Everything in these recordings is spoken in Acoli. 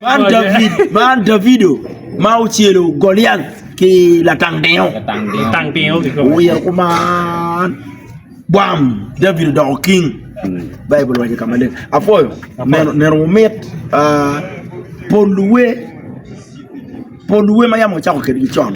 Man Davido ma ocelo Goliac ki latang tingo owiro kuman bwam Davido odoko king Baibul owaco ka maleng apwoyo neno wumit pol luwe ma yam wacako kwedgi con.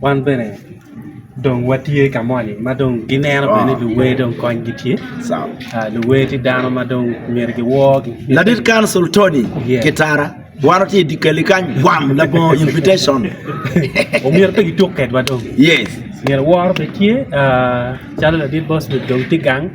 Wan bene dong watye ka moni ma dong gineno bene ni luwer dong konygi tye luwer tye dano ma dong myero giworgi. Ladit Council Tony Kitara wan watye i Dikali kany gwam labongo invitation omyero pe gituk kwedwa dong myero woro bene tye calo ladit Bosbet dong tye gang.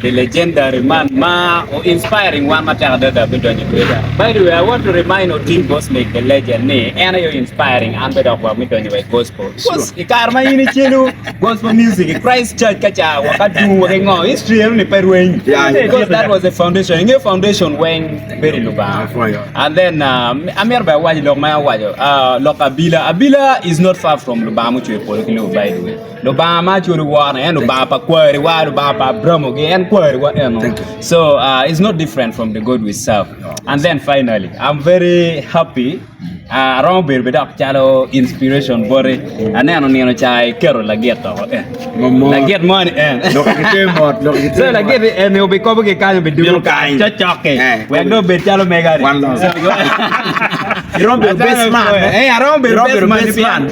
The legendary man ma o inspiring wan matek adada me donyo i Twitter. By the way, I want to remind Otim Gosmic the legend ni en aye o inspiring an bene dok wa me donyo wa i gospel. Cos i kare ma in icelu gospel music i Christ Church ka ca wa ka dum wa ki ngo history eno ni pe rweny. Because that was the foundation. Inge foundation weng bedo i Lubanga. And then uh, amito bene awaci lok ma en owaco, uh, lok abila. Abila is not far from Lubanga mucweyo polo ki lobo by the way. Lubanga ma culu woro en Lubanga pa kwariwa, Lubanga pa Abramo gi en kwariwa eno. So uh, it's not different from the God we serve. And then finally, I'm very happy. Uh, aromo bedo be dok calo inspiration boti. Aneno nino ca iketo lagit to eh. Lagit mo ni en. so lagit ni en obi kobo ki kanyo be dulo kany. Cocoke. Eh. Wek do bed calo mega ni. One love. Iromo bedo best man. Eh, aromo bedo best man.